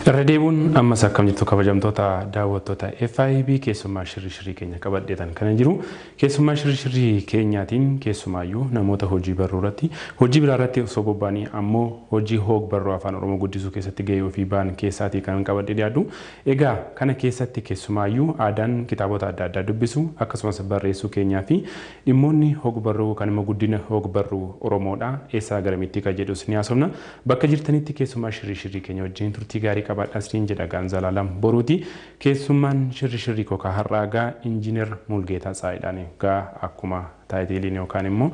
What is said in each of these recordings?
Irra deebuun ammas akkam jirtu kabajamtoota daawwattoota FIB keessummaa shirri shirrii keenya qabadheetan kana jiru. Keessummaa shirri shirrii keenyaatiin keessumaayyuu namoota hojii barruu irratti hojii biraa irratti osoo bobba'anii ammoo hojii hoog barruu afaan Oromoo guddisuu keessatti gahee ofii ba'an keessaatii kan qabadhee dhiyaadhu. Egaa kana keessatti keessumaayyuu aadaan kitaabota adda addaa dubbisuu akkasumas barreessuu keenyaafi dhimmoonni hog-barruu kan immoo guddina hog-barruu Oromoodha eessaa garamitti ka jedhus ni haasofna. Bakka jirtanitti keessummaa Shirrii Shirrii keenya wajjin turtii gaarii qabaadhaa isiniin jedha egaan Zalaalam Boruuti. Keessummaan Shirri Shirrii koo ka har'aa egaa Injiinar Mulgeetaa Tsaayidhaani egaa akkuma Taayitiiliin yookaan immoo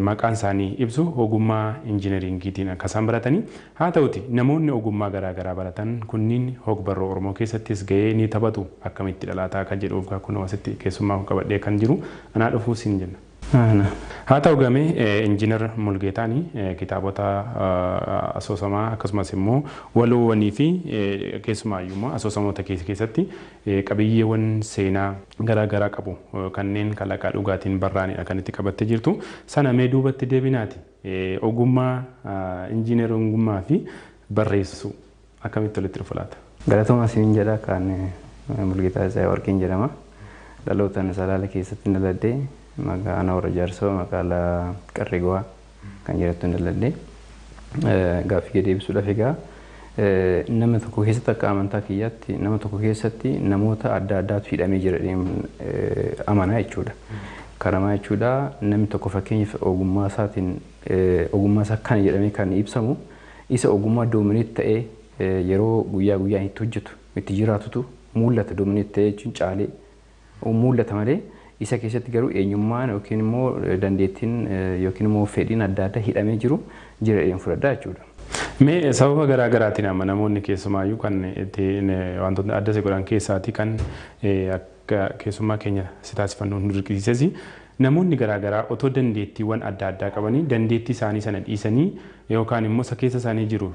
maqaan isaanii ibsu ogummaa injinariingiitiin akka isaan baratanii haa ta'uti namoonni ogummaa garaa garaa baratan kunniin hogbarruu Oromoo keessattis ga'ee ni taphatu akkamitti dhalaataa kan jedhuuf gaa kunoo asitti keessummaa koo qabadhee kan jiru anaa dhufuu siin jenna. Haa ta'u gamee Injinar Mulgeetaan kitaabota asoosamaa akkasumas immoo waloowwanii fi keessumaayyuu immoo asoosamoota keessatti Qabiyyeewan seenaa garaa garaa qabu kanneen kalaqaa dhugaatiin barraa'aniidha kan itti qabattee jirtu. Sana mee duubatti deebinaati ogummaa injiinerongummaa fi barreessuu akkamitti walitti dhufa laata? Galatoomaa isiniin jedha. Kan Mulgeetaa Tsahaayiwarqiin jedhama. Dhalootan Salaale keessattin dhaladhe. Magaana Warra Jaarsoo magaalaa Qarree Gowaa. kan jedhattu hin dalladde. Gaaffii kee deebisuudhaaf egaa nama tokko keessatti akka amantaa kiyyaatti nama tokko keessatti namoota adda addaatu hidhamee jira amanaa jechuudha. Kanamaa jechuudha namni tokko fakkeenyaaf ogummaa isaatiin ogummaa isaa kana jedhamee kan ibsamu isa ogummaa doomineet ta'ee yeroo guyyaa guyyaan itti hojjetu itti jiraatutu mul'ata doomineet ta'ee jechuun caalee mul'ata malee isa keessatti garuu eenyummaan yookiin immoo dandeettiin yookiin immoo fedhiin adda addaa hidhamee jiru jira jedheen fudhadha jechuudha. Mee sababa garaa garaatiin amma namoonni keessumaayyuu kan itti wantoota adda si godhan keessaatii kan akka keessummaa keenya si taasifannu nu dirqisiisesi namoonni garaa garaa otoo dandeettiiwwan adda addaa qabanii dandeettii isaanii sana dhiisanii yookaan immoo isa keessa isaanii jiru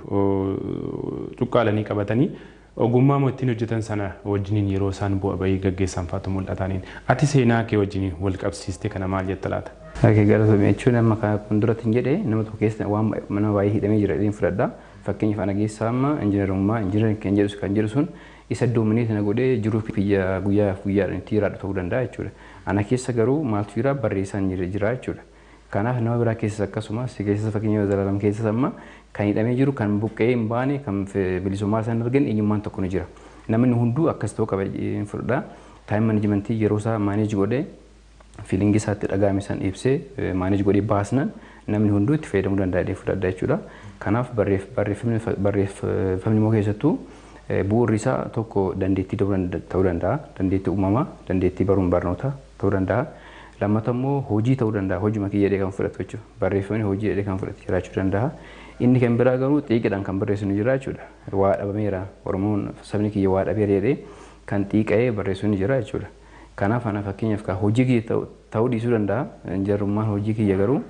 cuqqaalanii qabatanii Ogummaama ittin hojjetan sana wajjiniin yeroo isaan bu'a ba'ii gaggeessan faatu mul'ataaniin. Ati seenaa kee wajjiniin wal qabsiistee kana maal jetta laata? Ok galatoomi jechuun amma kan akkuma durattin jedhe nama tokko keessa waan nama baay'ee hidhamee jira jedheen fudhadha. Fakkeenyaaf ana keessa amma injinarummaa engineering kan jedhu kan jedhu sun isa dominate na godhee jiruu kiyya guyyaa guyyaadhaan itti jiraadhu ta'uu danda'a jechuudha. Ana keessa garuu maaltu jira barreessaan jira jechuudha. Kanaaf nama biraa keessas akkasuma, si keessas fakkeenya Zalaalam keessas amma kan hidhamee jiru, kan buqqa'ee hin baane, kan bilisummaa isaa hin arganne eenyummaan tokko ni jira. Namni hunduu akkas ta'uu qaba jedheen fudhadha. Time management yeroo isaa manage godhee feeling isaa itti dhaga'ame san ibsee manage godhee baasnan namni hunduu itti fayyadamuu danda'a jedheen fudhadha jechuudha. Kanaaf barreef- barreeffamni barreeffamni immoo keessattuu eh, bu'uurri isaa tokko dandeettii ta'uu danda- ta'uu danda'a. Dandeettii uumamaa, dandeettii baruun barnoota ta'uu danda'a. Lammata immoo hojii ta'uu danda'a hojuma kiyya jedhee kan fudhatu jechuudha. Barreeffamni hojii jedhee kan fudhate jiraachuu danda'a. Inni kan biraa garuu xiiqiidhaan kan barreessu ni jira jechuudha. Waa dhabameera Oromoon sabni kiyya waa dhabeera jedhee kan xiiqa'ee barreessu ni jira jechuudha. Kanaaf ana fakkeenyaaf kaa hojii kiyya ta'u ta'uu dhiisuu danda'a. Jarrummaan hojii kiyya garuu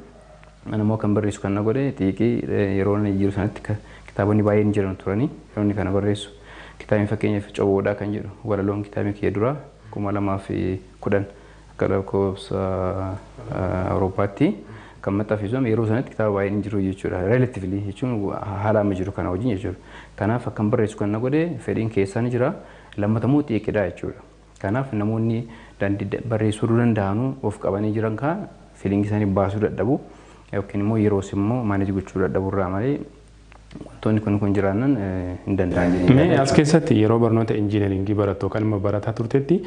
ana immoo kan barreessu kan na godhe xiiqii yeroo inni jiru sanatti ka- kitaabonni baay'een jiran turanii yeroo inni kana barreessu. Kitaabni fakkeenyaaf Coboodhaa kan jedhu walaloon kitaabni kiyya duraa kuma lamaa fi kudhan. Akka lakkoofsa Awurooppaatti kan maxxanfisu amma yeroo sanatti kitaaba baay'een hin jiru jechuudha. Relatively jechuun haala amma jiru kana wajjin jechuudha. Kanaaf akkan barreessu kan na godhe fedhiin keessaa ni jira. Lammata immoo xiiqidha jechuudha. Kanaaf namoonni dandeettii barreessuu irra danda'anu of qabanii jiran kaa fiiliingii isaanii baasuu dadhabu yookiin immoo yeroos immoo maaneej gochuu dadhabu irraa malee Wantoonni kun kun jiraannan hin danda'an jedhee Mee as keessatti yeroo barnoota injiinaringii barattu yookaan immoo barataa turtetti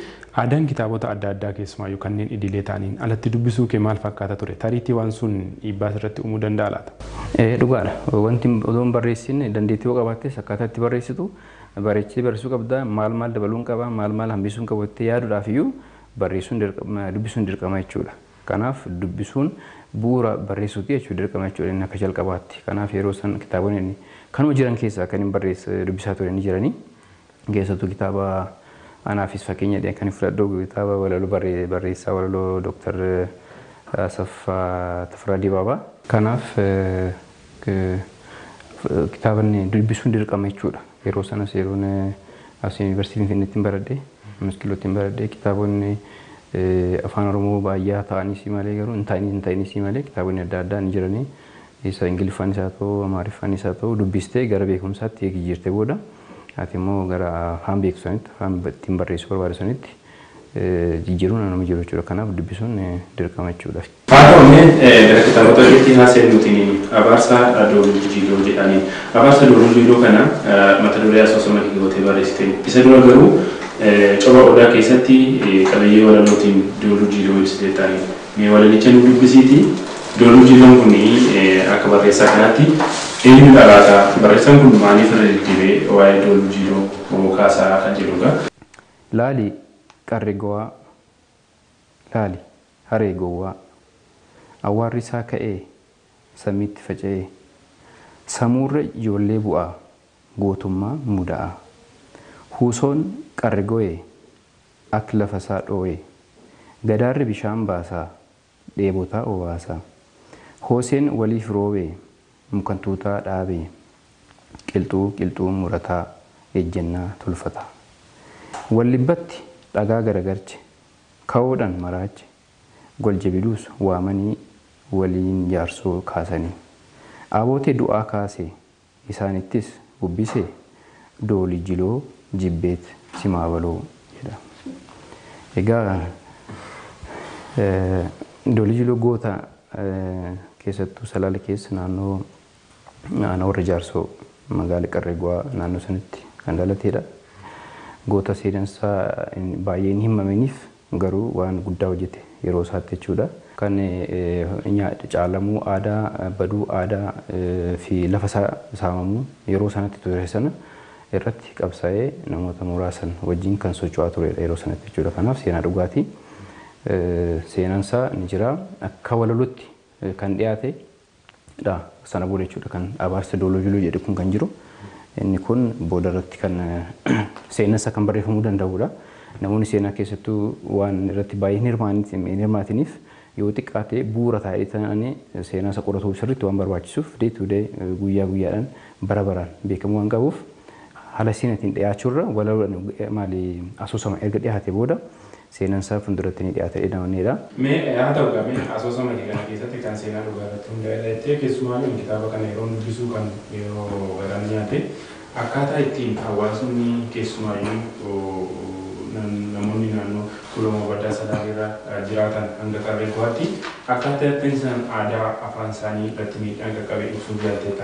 aadaan kitaabota adda addaa keessumaayyuu kanneen idilee ta'aniin alatti dubbisuu kee maal fakkaata ture? Tariitii waan sun dhiibbaa sirratti uumuu danda'a laata? Ee dhugaadha. Wanti odoo hin barreessin dandeettii yoo qabaattes akkaataa itti barreessitu bareechitee barreessuu qabda. Maal maal dabaluun qaba, maal maal hambisuun qaba jettee yaaduudhaaf iyyuu barreessuun dubbisuun dirqama jechuudha. Kanaaf dubbisuun bu'uura barreessuuti jechuudha. Dirqama jechuudha inni akka jalqabaatti. Kanaaf yeroo san kitaabonni ani kanuma jiran keessaa kanin barreesse dubbisaa ture ni jiranii. Keessattuu kitaaba anaafis fakkeenya ta'e kan fudhadhu kitaaba walaloo barree- barreessaa walaloo Dooktar Asaffaa Tafarraa Dibaabaa. Kanaaf eh, k- kitaabni dubbisuun dirqama jechuudha. Yeroo sanas yeroon as Yuunivarsiitii Finfinneettin baradhe, Anas Qilloottin baradhe kitaabonni Afaan Oromoo baayyaa ta'aniisii malee garuu hin ta'iniis hin ta'iniisii malee kitaabonni adda addaa ni jiranii. Isa Ingiliffaanis haa ta'uu, Amaariffaanis haa ta'uu dubbistee gara beekumsaatti eegi jijjiirtee booda ati immoo gara afaan beektu sanitti, afaan ittiin barreessuu barbaaddu sanitti jijjiiruun anuma jiru jechuudha. Kanaaf dubbisuun dirqama jechuudha. Faaruu Ameen gara kitaaba Xabi'atii haa seennuuti Abaarsa Doolulli Jiiloo jedhaani. Abaarsa Doolulli Jiiloo kana mata duree asoosama kee gootee barreessite. Isa dura garuu Coba Odaa keessatti qabiyyee walalootiin Dooluu Jiiloo ibsiteetta. Mee walalicha nuu dubbisiiti Dooluu Jiiloon kun akka barreessaa kanaatti eenyudha laata? Barreessaan kun maaliif irra deddeebi'ee waa'ee Dooluu Jiiloo kaasaa kan jedhuudha? Laali qarri gowaa. Laali haree gowwaa. Awwaarri isaa ka'ee samiitti faca'ee. Samuurra ijoollee bu'aa gootummaa muda'aa. Huusoon qarre goyee akk lafa isaa dhooyee. Gadaarri bishaan baasaa dheebotaa obaasaa. Hooseen waliif roobee Mukan tuutaa dhaabe qilxuu qilxuu murataa ejjennaa tolfataa. Wallibbatti dhagaa garagarche kawoodhan maraache goljebiluus waamanii waliin jaarsoo kaasanii. Aaboote du'aa kaase isaanittis bubbise Dooli jiloo jibbeet simaa baloo jedha. Egaa Dooli jiloo goota keessattuu Salaale keessa naannoo aanaa warra jaarsoo magaala qarree gu'aa naannoo sanitti kan dhalateedha. Goota seenansaa baay'ee hin himaminiif Garuu waan guddaa hojjete yeroo isaatti jechuudha. Kan caalamuu aadaa, baduu aadaa fi lafa isaa saamamuu yeroo sanatti ture sana irratti qabsaa'ee namoota muraasan wajjin kan socho'aa tureedha yeroo sanatti jechuudha. Kanaaf seenaa dhugaati. Seenaan isaa ni jira. Akka walalotti kan dhiyaate dha. Sana booda jechuudha kan abaarsa Dooloo Juluu jedhu kun kan jiru. Inni kun booda irratti kan seenan isaa kan barreeffamuu danda'u dha. Namoonni seenaa keessattuu waan irratti baay'ee hin hirmaanit- hin hirmaatiniif yoo xiqqaate bu'uura taa'ee ta'anii seenaa isa qoratuu sirriitti waan barbaachisuuf day to day guyyaa guyyaadhaan bara baraan beekamuu waan qabuuf haala seenatiin dhiyaachuu irra walaloodhaan maali asoosama erga dhiyaate booda Seenan isaa funduratti ni dhiyaata jedhee amanneedha. Mee haa ta'u gaa mee asoosama kee kana keessatti kan seenaa dhugaa irratti hundaa'edha jettee keessumaayyuu ani kitaaba kana yeroon dubbisuu kan yeroo garaa na nyaate akkaataa ittiin hawaasni keessumaayyuu namoonni naannoo Tuulamaa Baddaa Salaale irra jiraatan hanga Qarree Guhaatti akkaataa ittiin isaan aadaa afaan isaanii irratti miidhaan qaqqabe ibsuuf yaalteetta.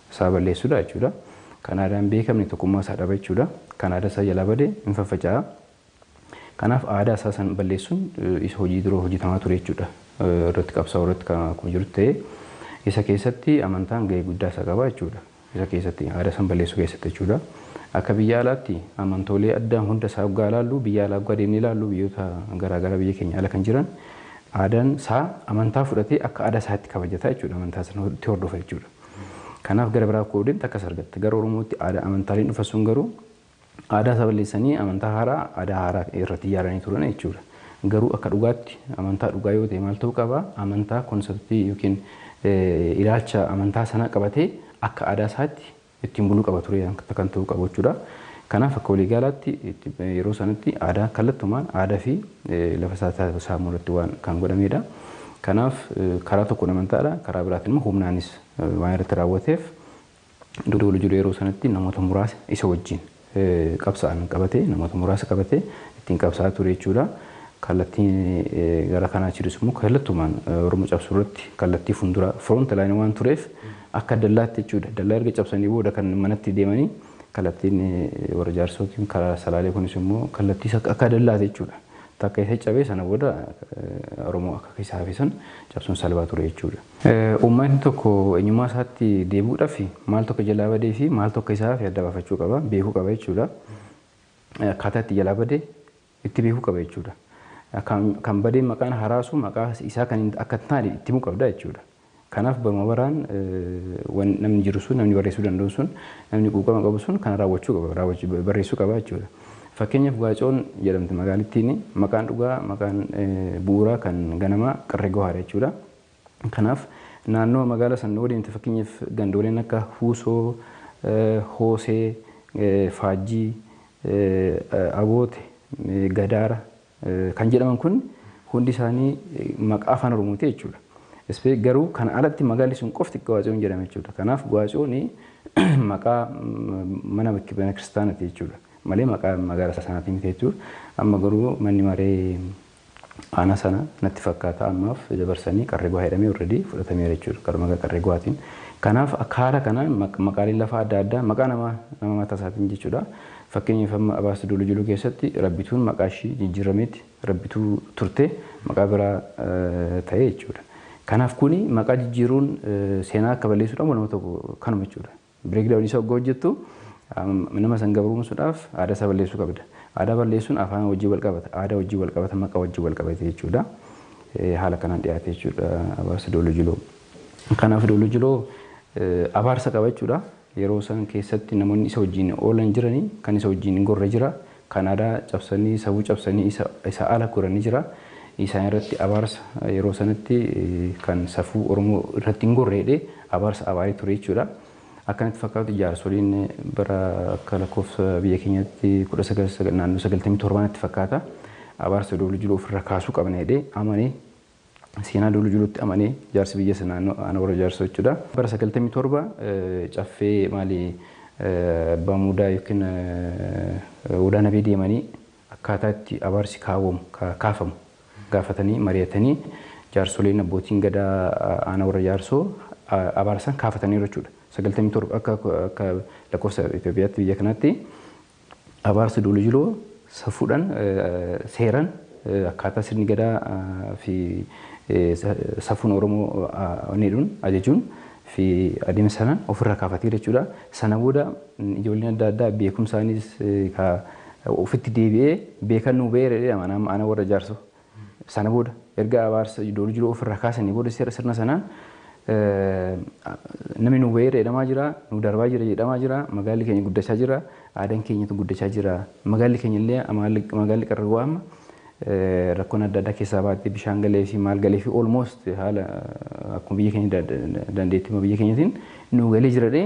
isaa balleessuudha jechuudha. Kan aadaa hin beekamne tokkummaa isaa dhaba jechuudha. Kan aadaa isaa jalaa bade hin faffaca'a. Kanaaf aadaa isaa san balleessuun isa hojii dura hojjetamaa ture jechuudha. Irratti qabsaa'u irratti kan akkuma jirutti ta'ee isa keessatti amantaan gahee guddaa isa qaba jechuudha. Isa keessatti aadaa san balleessuu keessatti jechuudha. Akka biyya alaatti amantoolee addaa hunda isaa hoggaa ilaallu biyya alaa hoggaa deemnee ilaallu biyyoota garaagaraa biyya keenya ala kan jiran aadaan isaa amantaa fudhatee akka aadaa isaatti kabajata jechuudha. Amantaa sana itti hordofa jechuudha. Kanaaf gara biraa koo deemte akkas argatta. Gara Oromootti aadaa amantaaleen dhufan sun garuu aadaa isaa balleessanii amantaa haaraa aadaa haaraa irratti ijaaranii turan jechuudha. Garuu akka dhugaatti amantaa dhugaa yoo ta'e maal ta'uu qaba? Amantaa konseptii yookiin ilaalcha amantaa sanaa qabatee akka aadaa isaatti ittiin buluu qaba ture kan ta'uu qabu jechuudha. Kanaaf akka waliigalaatti yeroo sanatti aadaa kallattumaan aadaa fi lafa isaa saamuu irratti waan kan godhameedha. Kanaaf karaa tokkoon amantaadha karaa biraatiin immoo humnaanis waan irratti raawwateef Dodoo Walijiru yeroo sanatti namoota muraasa isa wajjin qabsa'an qabatee namoota muraasa qabatee ittiin qabsa'aa ture jechuudha. Kallattiin gara kanaa jirus immoo kallattumaan Oromoo cabsuu irratti kallattii fuulduraa front line waan tureef akka dallaatti jechuudha. Dallaa erga cabsanii booda kan manatti deemanii Kallattiin warra jaarsoo yookiin karaa salaalee kunis immoo kallattii isa akka dallaati jechuudha. Takka isa cabee sana booda Oromoo akka keessa hafe san cabsuun salphaa ture jechuudha. Uummatni tokko eenyummaa isaatti deebi'uudhaaf maal tokko jalaa badee fi maal tokko isaa hafe adda baafachuu qaba, beekuu qaba jechuudha. Akkaataa itti jalaa bade itti beekuu qaba jechuudha. Kan badeen maqaan haraasu maqaa isaa kan akka hin taane itti himuu qabda jechuudha. Kanaaf baruma baraan wan namni jiru sun namni barreessuu danda'u sun namni quuqama qabu sun kana raawwachuu qaba raawwachuu barreessuu qaba jechuudha. Fakkeenyaaf Gaacoon jedhamti magaalittiin maqaan dhugaa maqaan bu'uuraa kan ganamaa Qarree Gohaadha jechuudha. Kanaaf naannoo magaala san yoo deemte fakkeenyaaf gandooleen akka Huusoo, Hoosee, Faajjii, Aboote, Gadaara kan jedhaman kun hundi isaanii maqaa afaan Oromooti jechuudha. Ispe garuu kana alatti magaalli sun qofti Gawaatsiyoon jedhama jechuudha. Kanaaf Gawaatsiyoon maqaa mana mana kiristaanati jechuudha. Malee maqaa magaala sanaati miti jechuudha. Amma garuu manni maree Aanaa sana natti fakkaata ammaaf dabarsanii qarree guwaa jedhamee already fudhatameera jechuudha karaa maqaa qarree guwaatiin. Kanaaf akka haala kanaan maqaaleen lafaa adda addaa maqaa namaa nama mataa isaatiin jechuudha. Fakkeenyaaf amma Abaarsa Duulu Juluu keessatti Rabbituun maqaa ishii jijjiirrameeti Rabbituu turte maqaa biraa ta'e jechuudha. Kanaaf kuni maqaa jijjiiruun seenaa akka balleessuudhaan waanuma tokko kanuma jechuudha. Break down isa ogga hojjettu nama san gabroomsuudhaaf aadaa isaa balleessuu qabda. Aadaa balleessuun afaan wajjin wal qabata, aadaa wajjin wal qabata, maqa wajjin wal qabata jechuudha. Haala kanaan dhiyaate jechuudha abaarsi Dooloo Jiloo. Kanaaf Dooloo Jiloo abaarsa qaba jechuudha. Yeroo san keessatti namoonni isa wajjin oolan jirani, kan isa wajjin gorre jira, kan aadaa cabsanii, safuu cabsanii isa isa ala goranii jira. Isaan irratti abaarsa yeroo sanatti kan safuu Oromoo irratti hin gorre jedhee abaarsa abaaree ture jechuu dha. Akka natti fakkaatutti jaarsoliin bara akka lakkoofsa biyya keenyaatti 19 naannoo 97 natti fakkaata abaarsa Dooloo Jiloo ofirraa kaasuu qabna jedhee amanee Seenaa Duulu Juluutti amanee jaarsi biyya sanaa Aanaa Warra Jaarsoo jechuudha. Bara 97 Caffee maali Abbaa Muudaa yookiin Odaa Nabee deemanii akkaataa itti abaarsi kaawwamu, kaafamu gaafatanii mari'atanii jaarsoleen abbootiin gadaa Aanaa Warra Jaarsoo abaara san kaafataniiru jechuudha. 97 akka lakkoofsa Itoophiyaatti biyya kanaatti Abaarsi Duuli Jiloo safuudhaan, seeran akkaataa sirni Gadaa fi safuun Oromoo onneedhuun ajajuun fi adeemsa sanaan ofirraa kaafateera jechuudha. Sana booda ijoolleen adda addaa beekumsaanis ka ofitti deebi'ee beekan nuu ba'eera jedhama. Ana warra Jaarsoo Sana booda erga abaarsa iddoo jiru ofirraa kaasanii booda seera sirna sanaan namni nu weerara jedhamaa jira, nu darbaa jira jedhamaa jira, magaalli keenya guddachaa jira, aadaan keenyatu guddachaa jira. Magaalli keenya illee magaalli qarragoo amma rakkoon adda addaa keessaa baatee bishaan galee fi maal galee fi almost haala akkuma biyya keenya dandeettii biyya keenyatiin nu galee jira dhee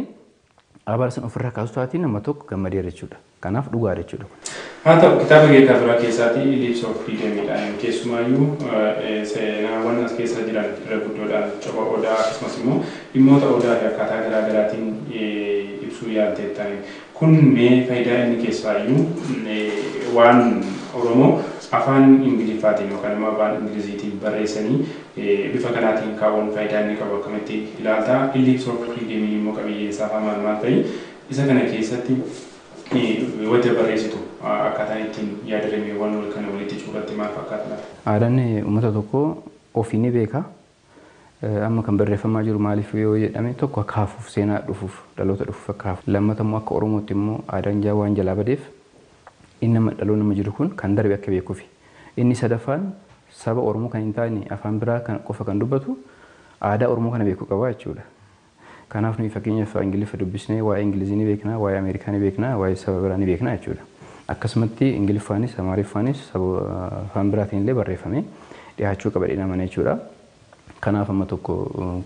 Abaara san ufirraa kaasu taati nama tokko gammadeera jechuudha. Kanaaf dhugaadha jechuudha kun. Haa ta'u, kitaaba Geetaa Duraa keessaatii Ellipse of Freedom dhaan keessumaayyuu seenaawwan as keessa jiran irra guddoodhaan copha Odaa akkasumas immoo dhimmoota Odaa fi akkaataa garaa garaatiin ibsuu yaalteetta. Kun mee fayidaa inni keessaayyuu waan Oromoo afaan Ingiliffaatiin yookaan immoo afaan Ingiliziitiin barreessanii Bifa kanaatiin kaa'uun faayidaa inni qabu akkamitti ilaalta? Ellipse of Euclide'miin immoo qabiyyeen isaa hoo maal maal fa'i? Isa kana keessatti wanta barreessitu akkaataan ittiin yaadrimeewwan wal kana walitti cuubatte maal fakkaata laata? Aadaan uummata tokkoo ofii ni beeka. Amma kan barreeffamaa jiru maaliif yoo jedhame tokko akka hafuuf seenaa dhufuuf dhaloota dhufuuf akka hafu. Lammata immoo akka Oromootti immoo aadaan jaa waan jalaa badeef inni amma dhaloonni amma jiru kun kan darbe akka beekufi. Inni sadaffaan Saba Oromoo kan hin taane afaan biraa kan qofa kan dubbatu aadaa Oromoo kana beeku qaba jechuu dha. Kanaaf nuyi fakkeenyaaf Ingiliffa dubbisnee waa'ee Ingilizii ni beekna, waa'ee Ameerikaa ni beekna, waa'ee saba biraa ni beekna jechuu dha. Akkasumatti Ingiliffaanis Amaariffaanis saba afaan biraatiin illee barreeffamee dhihaachuu qaba jedheen amana jechuu dha. Kanaaf amma tokko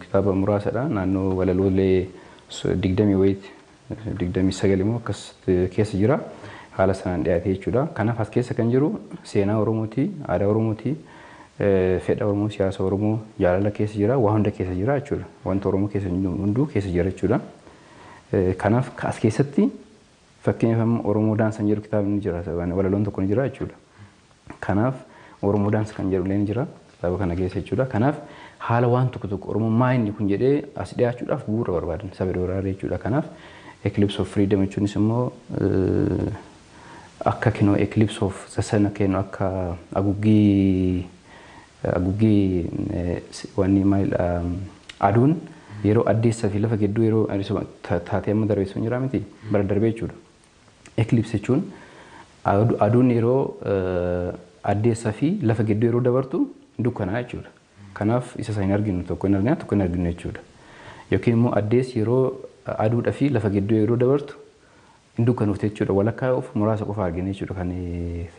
kitaaba muraasa dha naannoo walaloolee 20 wayiitti 29 immoo akkas keessa jira. Haala sanaan dhiyaatee jechuudha. Kanaaf as keessa kan jiru seenaa Oromooti, aadaa Oromooti, fedha Oromoo, siyaasa Oromoo, jaalala keessa jira, waa hunda keessa jira jechuudha. Wanta Oromoo keessa hin jiru hunduu keessa jira jechuudha. Kanaaf as keessatti fakkeenyaaf amma Oromoo Daansan jedhu kitaabni ni jira, walaloon tokko ni jira jechuudha. Kanaaf Oromo dance kan jedhu illeen jira kitaaba kana keessa jechuudha. Kanaaf haala waan tokko tokko Oromo maa inni kun jedhee as dhiyaachuudhaaf bu'uura barbaadan saba dooraaree jechuudha. Kanaaf Eclipse of Freedom jechuunis immoo akka kinoo Eclipse of the Sun akka jennu akka aguggii aguggii wanni maalidha aduun yeroo addeessaa fi lafa gidduu yeroo taatee amma darbeessu hin jiraa miti bara darbee jechuudha. Eclipse jechuun aduun yeroo addeessaa fi lafa gidduu yeroo dabartu dukkanaa jechuudha. Kanaaf isa sana hin arginu tokko hin argina tokko hin arginu jechuudha. Yookiin immoo addeessi yeroo aduudha fi lafa gidduu yeroo dabartu hin dukkanofte jechuudha. Walakkaa of muraasa qofa argina jechuudha kan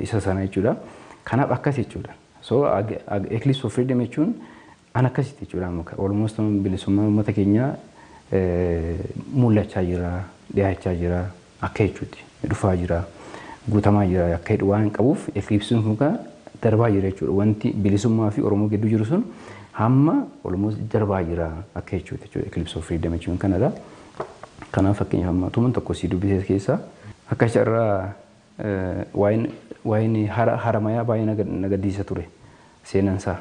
isa sana jechuudha. Kanaaf akkas jechuudha. So eclipse of freedom jechuun An akkasitti jechuudha amma ka- almost amma bilisummaan uummata keenyaa eh, mul'achaa jira, dhiyaachaa jira akka jechuutti dhufaa jira, guutamaa jira akka jedhu waan qabuuf eclipse kun ka darbaa jira jechuudha. Wanti bilisummaa fi Oromoo gidduu jiru sun hamma almost darbaa jira akka jechuutti jechuudha. Eclipse of freedom jechuun kanadha. Kanaaf fakkeenyaaf amma tuman tokko si dubbisee keessaa akka carraa eh, waa'een waa'een hara haramayaa baay'ee na gad- na gaddisiisa ture seenaan isaa.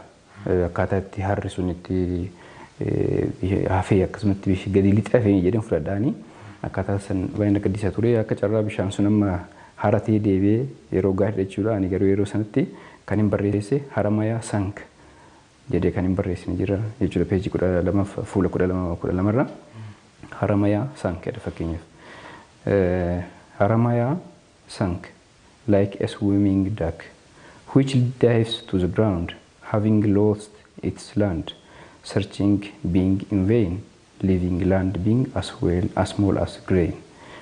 Akkaataa itti harri sun itti hafee akkasumatti bifi gadi lixe hafee jedheen fudhadhaani. Akkaataa san baay'ee na gaddisa ture. Akka carraa bishaan sun amma haratee deebi'ee yeroo gaariidha jechuudha. Ani garuu yeroo sanatti kan hin barreesse Haramayaa Sank jedhee kan hin barreessine jira jechuudha. Peejii kudha lama fuula kudha lama kudha lama irra Haramayaa Sank jedha fakkeenyaaf. Haramayaa sunk like a swimming duck, which dives to the ground, having lost its land, searching being in vain, leaving land being as well as small as grain.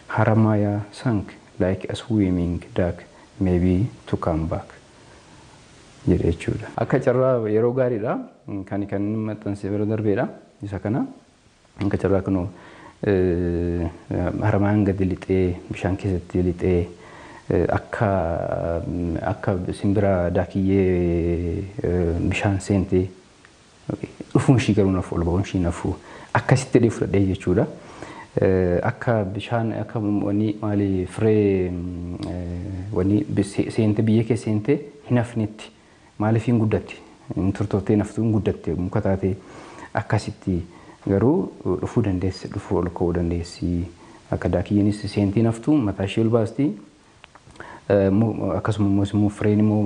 Haramaya sunk like a swimming duck, maybe to come back jedha jechuudha. Akka carraa yeroo gaariidha. Kani kan inni maxxanse bara darbeedha. Isa kana. Akka carraa kunoo haramaan gadi lixee bishaan keessatti lixee akka akka simbira daakiyyee bishaan seente dhufuun ishii garuu nafu ol ba'uun ishii nafu akkasitti jedhee fudhadhee jechuudha. Akka bishaan akka wanni maali firee wanni seente biyyee keessa seente hin hafnetti Maaliif hin guddatti? Hin turtoftee naftuu hin guddatte muka taatee akkasitti garuu dhufuu dandeessi dhufuu ol ka'uu dandeessi akka daakiyyenis seentii naftuu mataa ishee ol baasti akkasuma immoo immoo fireen immoo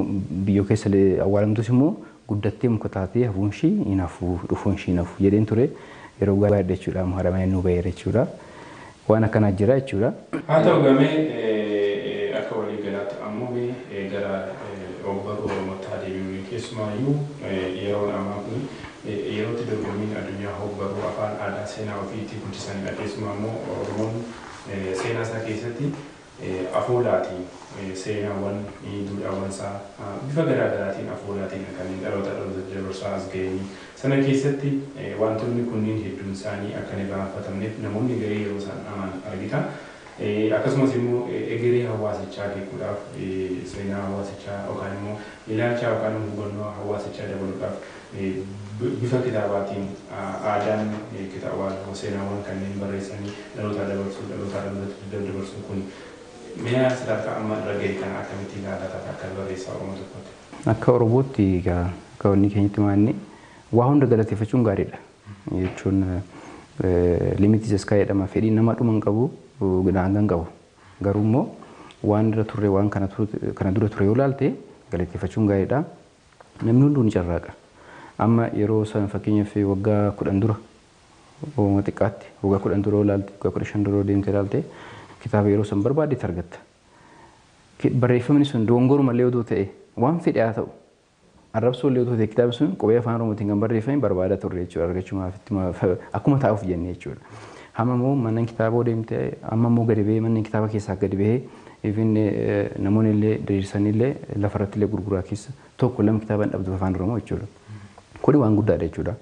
biyyoo keessa awwaalamtus immoo guddattee muka taatee hafuun ishii hin hafuu dhufuun ishii hin hafuu jedheen ture yeroo gaadha jechuudha haadha manaa nu ba'eera jechuudha Waan akkanaa jira jechuudha. Haa ta'u egaa mee akka walii galaatti ammoo mee gara ogbarruu Oromootti haa deebinuume. Keessumaayyuu yeroon ammaa kuni yeroo itti dorgommiin addunyaa ogbarruu afaan, aadaa, seenaa ofii itti guddisanidha. Keessumaa immoo Oromoon seenaa isaa keessatti. afoolaatiin seenaawwan, duudhaawwansaa bifa garaa garaatiin afoolaatiinidha kan inni dhalootaa dhalootatti dabarsaa as ga'e. Sana keessatti waantonni kunniin hedduunsaanii akka hin irraanfatamneef namoonni garii yeroo isaan dhaman argita. Akkasumas immoo egeree hawaasichaa beekuudhaaf, seenaa hawaasichaa yookaan immoo ilaalchaa yookaan immoo hubannoo hawaasichaa dabaluudhaaf Bifa kitaabaatiin aadaan kitaabaa yookaan seenaawwan kanneen barreessanii dhalootaa dabarsuun, dhalootaa dhalootatti daddabarsuun kun mi'a sadarkaa amma irra gahe kana akkamitti ilaala taata akka barreessaa Oromoo tokkootti? Akka Oromootti egaa akka wanni keenyatti maanni waa hunda galateeffachuun gaariidha. Jechuun limit is sky jedhama fedhiin namaa dhuma hin qabu daangaa hin qabu. Garuu immoo waan irra turre waan kana dura ture yoo ilaalte galateeffachuun gaariidha. Namni hunduu ni carraaqa. Amma yeroo sana fakkeenyaaf waggaa 10 dura hooma xiqqaatti waggaa 10 dura yoo ilaalte waggaa 15 dura yoo deemte ilaalte kitaaba yeroo san barbaadde itti argatta. Ki- Barreeffamni sun doongoruma illee odoo ta'e waan fedhe haa ta'u arrabsoo illee odoo ta'e kitaabni sun qubee afaan oromootiin kan barreeffame barbaada turre jechuudha argachumaaf itti ma- fa- akkuma taa'uuf jennee jechuudha. Amma immoo manneen kitaaboo deemte amma immoo gadi bahee manneen kitaaba keessaa gadi bahee Even namoonni illee diriirsanii illee lafa irratti illee gurguraa keessa tokko lama kitaaba hin dhabdu afaan Oromoo jechuudha. Kuni waan guddaadha jechuudha.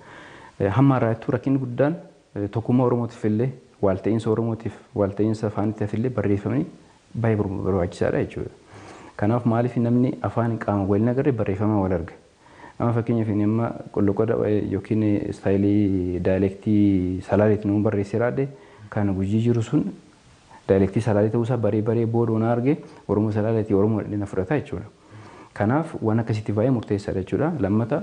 Hamma har'aattuu rakkinni guddaan tokkummaa Oromootiif illee waalta'iinsa Oromootiif waalta'iinsa afaaniitiif illee barreeffamni baay'ee barbaachisaadha jechuudha. Kanaaf maaliif namni afaan qaama wal hin agarre barreeffamaan wal arga. Amma fakkeenyaaf ani amma qolloqoda yookiin istaayilii daayilektii salaaleeti nama barreessee laadhe kan gujii jiru sun daayilektii salaalee ta'uu isaa baree baree booda waan arge Oromoo salaaleeti Oromoo dhadhee na fudhata jechuudha. Kanaaf waan akkasitti baay'ee murteessaadha jechuudha. Lammata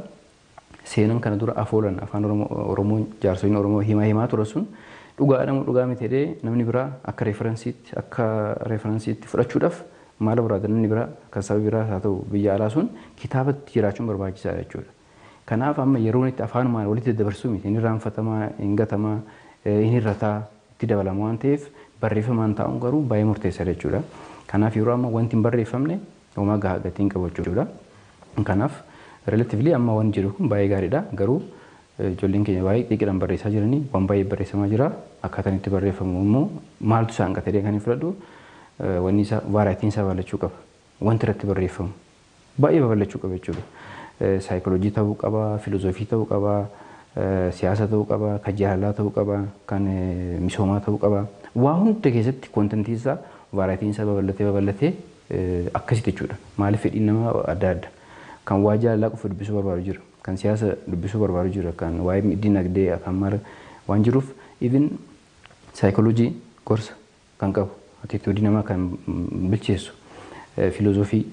seenan kana dura afoolan afaan Oromoo jaarsoliin Oromoo himaa himaa tura sun dhugaadha moo dhugaa miti jedhee namni biraa akka referensiitti akka referensiitti fudhachuudhaaf Maal barbaada namni biraa kan saba biraas haa ta'u biyya alaa sun kitaabatti jiraachuun barbaachisaadha jechuudha. Kanaaf amma yeroon itti afaanumaan walitti daddabarsuu miti. Hin irraanfatamaa, hin gatamaa, hin hir'ataa, itti dabalama waan ta'eef barreeffamaan taa'uun garuu baay'ee murteessaadha jechuudha. Kanaaf yeroo amma wanti hin barreeffamne homaa gahaa gatii hin qabu jechuudha. Kanaaf relatively amma waan jedhu kun baay'ee gaariidha garuu Ijoolleen keenya baay'ee xiiqiidhaan barreessaa jiranii waan baay'ee barreessamaa jira. Akkaataan itti barreeffamu immoo maaltu isa hanqate jedhee kan hin fudhadhu wanni isaa vaaraayitiin isaa babal'achuu qaba. Wanti irratti barreeffamu baay'ee babal'achuu qaba jechuudha. Saayikooloojii ta'uu qaba, filozoofii ta'uu qaba, siyaasa ta'uu qaba, kan jaalalaa ta'uu qaba, kan misoomaa ta'uu qaba. Waa hunda keessatti kontentiin isaa vaaraayitiin isaa babal'atee babal'atee akkasitti jechuudha. Maaliif fedhiin nama adda adda. Kan waa jaalalaa qofa dubbisuu barbaadu jira. kan siyaasa dubbisuu barbaadu jira kan waa'ee dinagdee afaan mara waan jiruuf even psychology gorsa kan qabu attitude namaa kan bilcheessu filozofii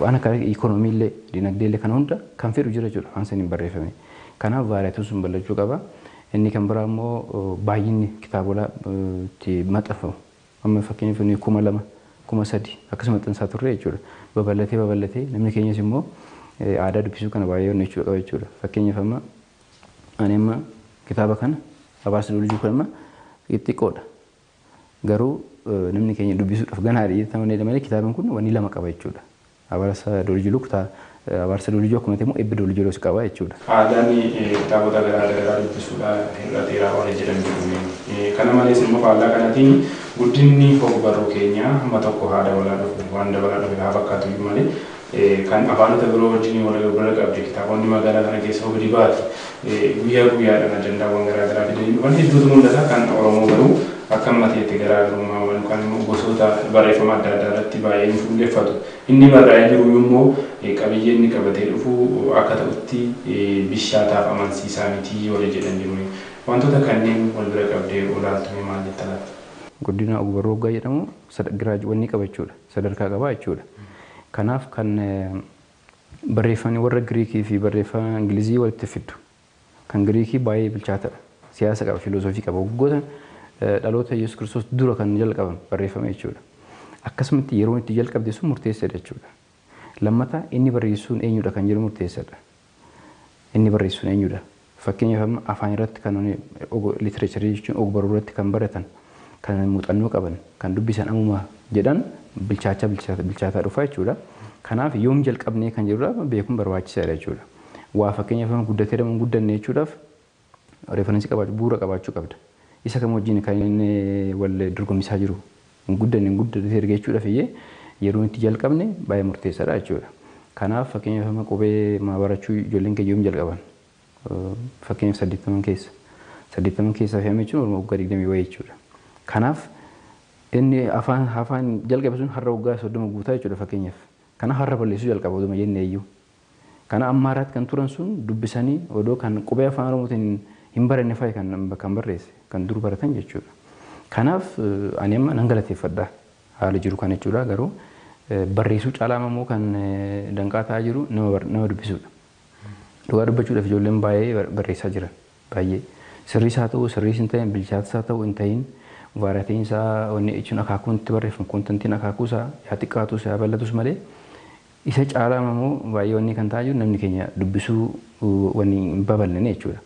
waan akka economy illee dinagdee illee kana hunda kan fedhu jira jechuudha afaan saniin barreeffame kanaaf vaariyaatuun sun bal'achuu qaba inni kan biraa immoo baay'inni kitaabola itti maxxanfamu Amma fakkeenyaaf nuyi kuma lama, kuma sadi akkas maxxansaa turre jechuudha. Babal'atee babal'atee namni keenyas immoo aadaa dubbisuu kana baay'ee onnachuu qaba jechuudha. Fakkeenyaaf amma ani amma kitaaba kana Abaarsa Duulii Jiru kana amma xixiqqoodha. Garuu namni keenya dubbisuudhaaf ganaadha jedhee amanee malee kitaabni kun wanni lama qaba jechuudha. Abarsa Dooliji Luk ta Abarsa Dooliji akkuma ta'e immoo Ebbi Dooliji Loos qaba jechuudha. Aadaan kitaabota garaa gararaa dubbisuudha hir'ateera warri jedhan jiru mee? Kana malees immoo faallaa kanatiin guddinni hog-barruu keenyaa hamma tokko haa dabalaa dhufu, waan dabalaa dhufe haa fakkaatu iyyuu malee kan afaanota biroo wajjin wal bira qabde kitaabonni magaalaa kana keessa hogdibaati Guyyaa guyyaadhaan ajandaawwan garaa garaa fidanii dhufan hedduutu mul'ata. Kan Oromoo garuu akka amma ta'etti garaagarummaa waan yookaan immoo gosoota barreeffama adda addaa irratti baay'ee hin fuulleffatu. Inni barraa'ee jiru immoo qabiyyee inni qabatee dhufu akka ta'utti bishaataaf amansiisaa miti warri jedhan jiru. Wantoota kanneen wal bira qabdee yoo ilaaltu mee maal jetta laata? Guddinaa Ogbarruu hoggaa jedhamu giraaj wanni qaba jechuudha. Sadarkaa qaba jechuudha. Kanaaf kan Barreeffamni warra Giriikii fi barreeffama Ingilizii walitti fiddu. Kan Giriikii baay'ee bilchaatadha. Siyaasa qaba, filoosofii qaba. Waggoota dhaloota Yesus Kiristoos dura kan jalqabame barreeffama jechuudha. Akkasumatti yeroon itti jalqabde sun murteessadha jechuudha. Lammata inni barreessuun eenyudha kan jedhu murteessadha. Inni barreessuun eenyudha? Fakkeenyaaf amma afaan irratti kan nuti og literature jechuun og baruu irratti kan baratan, kan muuxannoo qaban, kan dubbisan ammuma jedhan bilchaachaa bilchaata bilchaataa dhufa jechuudha. Kanaaf yoom jalqabnee kan jedhu dha beekuun barbaachisaadha jechuudha. Waa fakkeenyaaf amma guddatee dha moo hin guddanne jechuudhaaf reference qabaachuu bu'uura qabaachuu qabda. Isa kam wajjin kan inni wal dorgomsisaa jiru Hin guddanne hin guddatee erga jechuudhaaf iyyee yeroon itti jalqabne baay'ee murteessaadha jechuudha. Kanaaf fakkeenyaaf amma qubee maa barachuu ijoolleen keenya yoom jalqaban? Fakkeenyaaf saddeettaman keessa. Saddeettaman keessaa fi amma jechuun warra waggaa digdamii wayii jechuudha. Kanaaf inni afaan afaan jalqabe sun har'a waggaa soddoma guutaa jechuudha fakkeenyaaf. Kanaaf har'a balleessuu jalqaba oduma jennee iyyuu. Kana Ammaaraatti kan turan sun dubbisanii odoo kan qubee Afaan Oromootiin hin baranne fa'i kan kan barreesse kan dur baratan jechuudha. Kanaaf ani amma nan galateeffadha haala jiru kana jechuudha garuu barreessuu caalaa immoo kan danqaa ta'aa jiru nama bar- nama dubbisuudha. Dhugaa dubbachuudhaaf ijoolleen baay'ee barreessaa jiran baay'ee sirriis haa ta'u sirriis hin ta'in bilchaatas haa ta'u hin ta'in vaaraatiin isaa wanni jechuun akaakuun itti barreeffamu kontantiin akaakuu isaa yaa xiqqaatus yaa bal'atus malee Isa caalaa ammoo baay'ee wanni kan ta'aa jiru namni keenya dubbisuu wanni hin babal'ine jechuudha.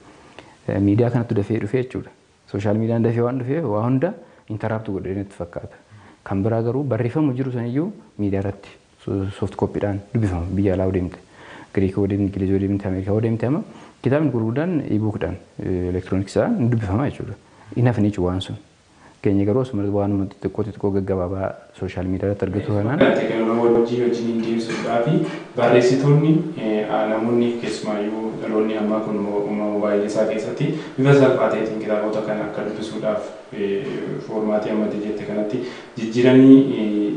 Miidiyaa kanattu dafee dhufee jechuudha. Sooshaal miidiyaan dafee waan dhufeef waa hunda intaraapti godhee natti fakkaata. Kan biraa garuu barreeffamu jiru saniyyuu miidiyaa irratti sooft kooppiidhaan dubbifama biyya alaa yoo deemte. Giriik yoo deemte, Ingiliz yoo deemte, Ameerikaa yoo deemte amma kitaabni gurguddaan ibuukidhaan elektirooniksaan ni dubbifama jechuudha. Hin hafne jechuudha waan sun. keenya garuu asumarratti waanuma xixiqqoo xixiqqoo gaggabaabaa sooshaal miidiyaarratti argitu kanaan. Eebbifamnaa teekinooloojii wajjin wajjiniin deemsuudhaafi barreessitoonni namoonni keessumaayyuu dhaloonni ammaa kun moobaayilii isaa keessatti bifa salphaa ta'eetiin kitaabota kana akka dubbisuudhaaf foormaatii amma ati jette kanatti jijjiiranii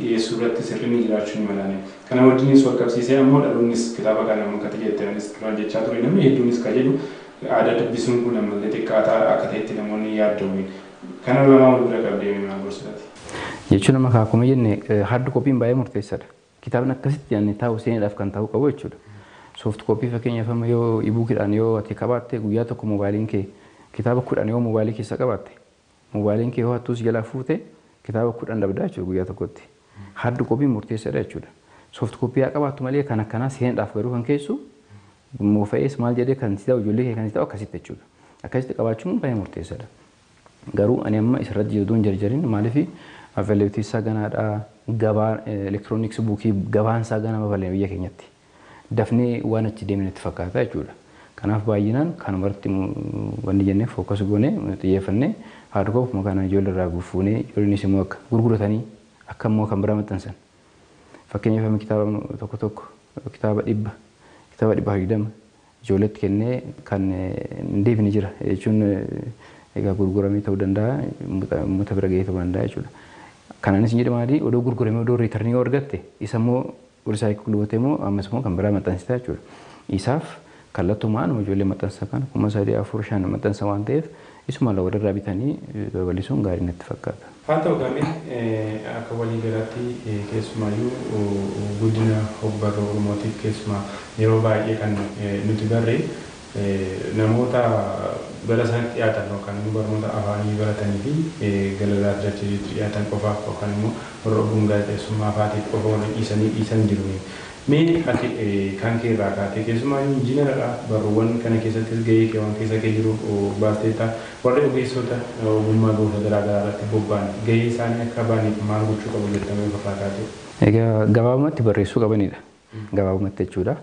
dhiyeessuurratti sirrinni jiraachuu ni malaani. Kana wajjiniis walqabsiisee ammoo dhaloonnis kitaaba kana amma ati jette anis duraan jechaa ture namni hedduunis ka jedhu Aadaa dubbisuun kun ammallee xiqqaataa akka ta'etti namoonni hin yaadda'u. Kana lamaan wal bira qabdee mee maal gorsitu ati? Jechuun amma kaa akkuma jenne hard copy'n baay'ee murteessadha. Kitaabni akkasitti yaadne taa'u seenaadhaaf kan ta'uu qabu jechuudha. Soft copy fakkeenyaaf amma yoo e-bookidhaan yoo ati qabaatte guyyaa tokko moobaayiliin kee kitaaba kudhan yoo moobaayilii keessa qabaatte Mobaayiliin kee yoo hattuu si jalaa fuute kitaaba kudhan dhabdaa jechuudha guyyaa tokkotti. Hard copy murteessadha jechuudha. Soft copy haa qabaattu malee kan akkanaa seenaadhaaf garuu kan keessu moofa'ees maal jedhee kan si ta'u ijoollee kee kan si ta'u akkasitti jechuudha. Akkasitti qabaachuun baay'ee murteessadha. Garuu ani amma isarratti jedhu duun jarjarin maaliif availability isaa ganaadha gabaa electronics buukii gabaan isaa gana babal'ina biyya keenyatti. dafnee waan achi deemne natti fakkaata jechuudha. Kanaaf baay'inaan kanuma irratti wanni jennee focus goonee xiyyeeffannee hard copy ofuma kanaan ijoollee irraa fuunee ijoolleenis immoo akka gurguratanii akka immoo kan biraa maxxansan. Fakkeenyaaf amma kitaaba tokko tokko kitaaba dhibba kitaaba dhibba digdama ijoolleetti kennee kan hin deebine jira jechuun egaa gurguramee ta'uu danda'a uummata bira ga'ee ta'uu danda'a jechuudha. Kanaanis hin jedhu maali odoo gurguramee odoo riitarnii yoo argatte isa immoo Recycle gootee immoo ammas immoo kan biraa maxxansita jechuudha. Isaaf kallattumaan ijoollee maxxansa kana kuma sadii, afur, shan maxxansa waan ta'eef isuma lama walirraa bitanii babal'isuun gaarii natti fakkaata. Haa ta'u egaa mee akka walii galaatti keessumaayyuu guddina hogbarruu Oromootiif keessumaa yeroo baay'ee kan nuti barre Namoota gara isaanitti dhiyaatan yookaan immoo barnoota afaanii baratanii fi galarraa firaachisiitti dhiyaatan qofaaf yookaan immoo warra ogguun gaazexeessummaa faatiif qofa warri dhiisanii dhiisan jiru mee? Mee ati kan kee irraa kaatee keessumaayyuu injiinara dha barruuwwan kana keessattis gahee kee waan keessa kee jiru baasteetta warri ogeessoota ogummaa gosa garaa garaa irratti bobba'an gahee isaanii akka ba'aniif maal gochuu qabu jetta mee of irraa kaatee? Egaa gabaabumatti barreessuu qabani dha. Gabaabumatti jechuudha.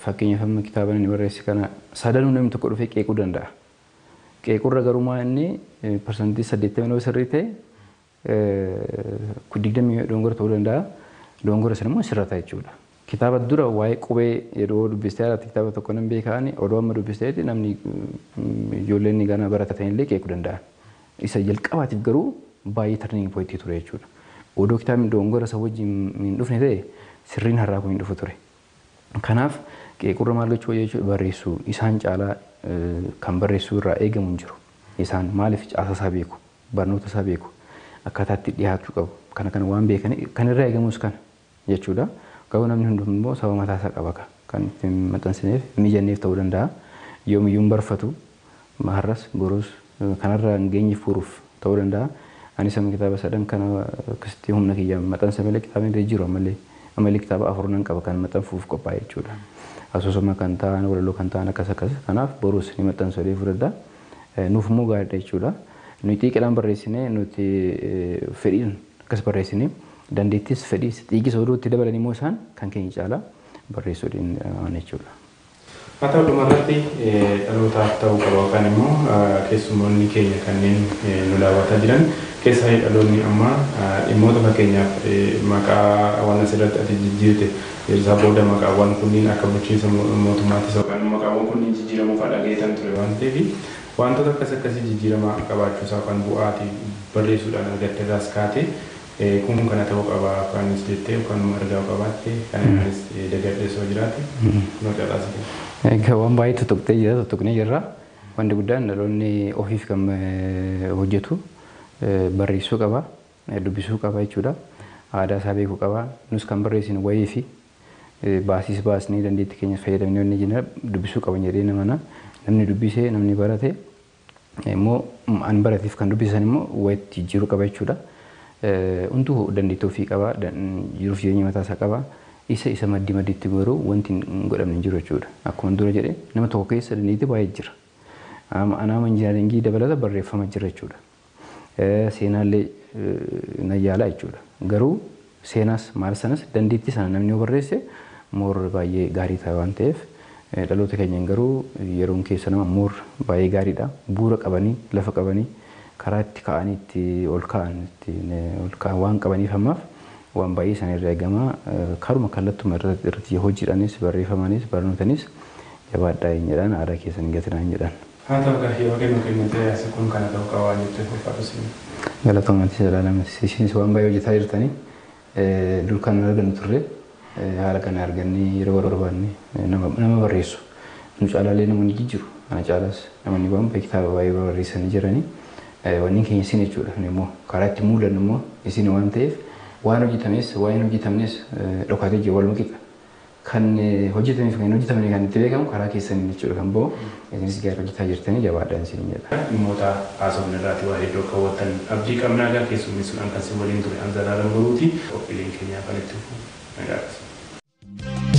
Fakkeenyaaf amma kitaaba inni barreesse kana sadanuu namni tokko dhufee qeequu danda'a. Qeequrra garuu maa inni parsantii saddeettamii yoo sirrii ta'e digdamii yoo dogongora ta'uu danda'a. Dogongora sana immoo sirrata jechuudha. Kitaaba dura waa'ee qubee yeroo dubbistee haalaatti kitaaba tokko nan beekaani odoo amma dubbisteeti namni ijoolleen ganaa barata ta'inillee qeequu danda'an. Isa jalqabaatiif garuu baay'ee turning point ture jechuudha. Odoo kitaabni dogongora san wajjin hin dhufne ta'e sirriin har'aa kun hin dhufu ture. Kanaaf qeequrra maal gochuu wayya jechuudha barreessuu isaan caalaa kan barreessuu irraa eegamu hin jiru. Isaan maaliif caasaa isaa beeku, barnoota isaa beeku, akkaataa itti dhiyaachuu qabu kana kana waan beekaniif kan irraa eegamus kana. jechuudha. Garuu namni hundumtuu immoo sababa mataa isaa qaba ka. Kan itti hin maxxansineef, hin mijanneef ta'uu danda'a. Yoomiyyuu hin barfatu. Har'as, borus kanarra hin geenye fuuruuf ta'uu danda'a. Anis amma kitaaba sadan kana akkasitti humna kiyyaan maxanse malee kitaabni gadi jiru ammallee ammallee kitaaba afur nan qaba kan maxxanfuuf qophaa'e jechuudha. Asoosama kan ta'an, walaloo kan ta'an akkas akkas. Kanaaf borus ni maxxansu jedhee fudhadha. Nuuf immoo gaariidha jechuudha. Nuyi xiiqiidhaan barreessine, nuti fedhiin akkas barreessine Dandeettiis fedhiis dhiigis oduu itti dabalan immoo isaan kan keenya caalaa barreessuu danda'an jechuudha. Haa ta'u dhumarratti dhalootaaf ta'uu qaba yookaan immoo keessummoonni keenya kanneen nu daawwataa jiran keessaayyuu dhaloonni ammaa dhimmoota fakkeenyaaf maqaawwan asirratti ati jijjiirte Ejersaa booda maqaawwan kunniin akka bulchiinsa mootummaattis yookaan immoo maqaawwan kunniin jijjiiramuufaa dhagaheetan ture waan ta'eef waantota akkas akkasii jijjiirama qabaachuusaa yookaan bu'aa ati barreessuudhaan argatterraas kaatee Kun kana ta'uu qaba afaanis jettee yookaan immoo ergaa yoo qabaatte kan anaanis dagadhe osoo jiraate kunoo carraas kee. Egaa waan baay'ee tuttuqxee jirta tuttuqnee jirra. Wanti guddaan dhaloonni ofiif kan hojjetu barreessuu qaba, dubbisuu qaba jechuudha. Aadaa isaa beekuu qaba. Nus kan barreessinu wayii fi baasiis baasnee dandeettii keenyas fayyadamnee wanni jenna dubbisuu qaban jedheen amana. Namni dubbise namni barate immoo an barateef kan dubbise san immoo wayitti jijjiiruu qaba jechuudha. Hunduu dandeettii ofii qaba, jiruuf jireenya mataa isaa qaba. Isa isa maddi madditti garuu wanti hin godhamne hin jiru jechuudha. Akkuma dura jedhe nama tokko keessa dandeettii baay'ee jira. Anaama injinaringii dabalata barreeffama jira jechuudha. seenaallee nan yaala jechuudha. Garuu seenaas maal sanas dandeettii sana namni yoo barreesse more baay'ee gaarii ta'a waan ta'eef dhaloota keenyan garuu yeroon keessan amma more baay'ee gaariidha. Bu'uura qabanii, lafa qabanii, karaa itti ka'anii itti ol ka'an ittiin ol ka'an waan qabaniif ammaaf waan baay'ee isaanirraa eegama. Karuma kallattuma irratti hojiidhaanis, barreeffamaanis, barnootanis jabaadhaa hin jedhaan aadaa keessan hin gatinaa hin jedhaan. Haa ta'u gaa yeroo kee nuu kennitee asi kun kana ta'u qaba waan jetteef ulfaadhu siin. Galatoomi Atis Zalaalam Atis isinis waan baay'ee hojjetaa jirtani dur kan hin argannu turre haala kana argannee yeroo barbaanne nama barreessu nu caalaa illee nama ni jijjiru ana caalaas namani waan baay'ee kitaaba baay'ee barreessani jirani wanni keenya isin jechuudha nu immoo karaa itti mul'annu immoo isin waan ta'eef waan hojjetames waan hin hojjetamnes dhokaatee jiru waluma qixa kan hojjetame fi kan hin hojjetamne kan itti beekamu karaa keessaniin jechuudha kan ba'u. Isinis gaara hojjetaa jirtanii jabaadhaa isiniin jedha. Dhimmoota haasofne irraatii waa hedduu akka hubattan abdii qabna. Egaa keessummeessuudhaan kan sin waliin ture an Zalaalam Boruuti. Qophiileen keenya hafan itti fufu. Nagaa keessaniif.